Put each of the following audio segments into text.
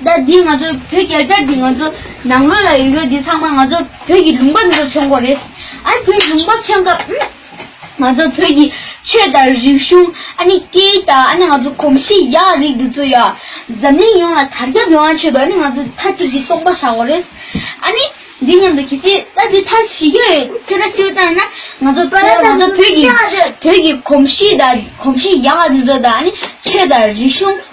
ཟླ་འདིའི་ང་ཚོ་བོད་རྒྱལ་དར་འདི་ང་ཚོ་ནང་མོལ་ལ་ཡོད་ཡོད་འདི་ཚང་མ་ང་ཚོ་བོད་ཀྱི་ལུང་པ་འདི་ཚོ་ཚོན་མགོ་རེད། ཨ་བོད་ལུང་པ་ཚོན་སྐབས་ང་ཚོ་བོད་ཀྱི་ཆོས་དང་རིག་གཞུང་ཨ་ནི་སྐད་ཡིག་དང་ཨ་ནི་ང་ཚོ་གོམས་གཤིས་ཡག་རིགས་འདི་ཚོ་ཡང་འཛམ་གླིང་ཡོངས་ལ་དར་ཁྱབ་ཡོང་བ་ཆེད་དུ་ཨ་ནི་ང་ཚོ་མཐའ་གཅིག་གིས་སྟོང་པ་བཞག་གོ་རེད། ཨ་ནི་འདི་སྙམ་དུ་གལ་སྲིད་ཟླ་འདི་མཐའ་བཞི་རྒྱ་ཡི་ཚེ་ད་སིལ་བཏང་ན་ང་ཚོ་ད་ལྟ་ང་ཚོ་བོད་ཀྱི་བོད་ཀྱི་གོམས་གཤིས་དང་གོམས་གཤིས་ཡག་འདི་ཚོ་དང་ཨ་ནི་ཆོས་དང་རིག་གཞུང།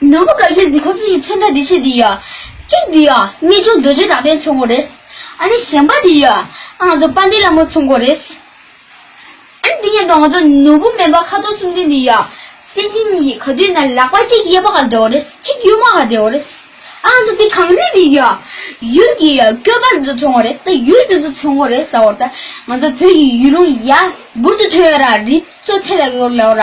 ནོར་བུ་ག་གེར་འདི་ཁོ་ཚོ་ཡི་མཚོན་ད་འདི་ཆེ་འདི་ཡ། གཅིག་འདི་ཡ་གཉིས་ཆུང་རྡོ་རྗེ་གྲགས་ལྡན་ཚུ་འགོ་རེད། ཨ་ནི་གཞན་པ་འདི་ཡ་ཨ་ང་ཚོ་དཔའ་འདི་ལ་མོ་ཚུ་འགོ་རེད། ཨ་ནི་འདི་ཉེན་རྟོག་ང་ཚོ་ནོར་བུ་སྨན་པ་ཁ་དོག་གསུམ་ལྡན་འདི་ཡ། སེམས་ཉིད་གཉིས་ཀྱི་ག་དུས་ན་ལག་པ་གཅིག་གཡས་པ་ག་འདེའོ་རེད་གཅིག་གཡོན་མ་ག་འདེའོ་རེད། ཨ་ང་ཚོ་འདི་གངས་རི་འདི་ཡ། ཡུལ་གྱི་ཡ་སྐྱོ་པ་འདི་ཚོ་ཚུ་འགོ་རེད་ད་ཡུལ་འདི་ཚོ་ཚུ་འགོ་རེད་ཟ་འོ་ད་ང་ཚོ་བོད་ཀྱི་ཡུལ་ལུང་ཡ་འབུར་དུ་ཐོན་ཡོད་ར་རི་ཚོ་ཚད་ལ་གོ་ལའོ་ར།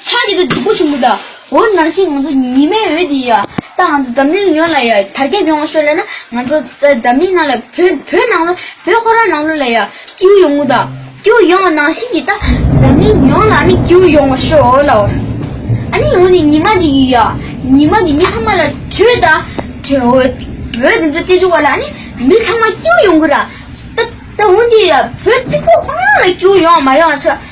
ཆགས་ཀྱི་འདུག་སྡུག་པོ་བྱུང་གི་འདུག་འོ་ནང་བཞིན་ང་ཚོ་ཉི་མའི་འོད་འདི་ཡོད་ད་ང་ཚོ་འཛམ་གླིང་ཡོངས་ལ་ཡོད་དར་ཁྱབ་ཡོང་བ་ཤོད་ལེ་ན་ང་ཚོ་འཛམ་གླིང་ནང་ལ་བོད་བོད་ནང་ལོ་བོད་ཁོ་རང་ནང་ལོ་ལ་ཡོད་སྐྱིའུ་ཡོང་གི་འདུག་སྐྱིའུ་ཡོང་བ་ནང་བཞིན་གྱི་ད་འཛམ་གླིང་ཡོངས་ལ་ཨ་ནི་སྐྱིའུ་ཡོང་བ་ཤོད་ལ་འོ་ཨ་ནི་འོ་ནི་ཉི་མ་འདི་ཡི་ཡོད་ཉི་མ་འདི་མི་ཚང་མ་ལ་དྲོད་ད་དྲོད་འོད་འོད་འདི་ཚོ་སྐྱེ་བྱུང་བ་ལ་ཨ་ནི་མི་ཚང་མ་སྐྱིའུ་ཡོང་གི་ར་ད་ད་འོ་འདི་ཡོད་བོད་གཅིག་པོ་ཁོ་རང་ལ་སྐྱིའུ་ཡོང་མ་ཡོང་ཆ།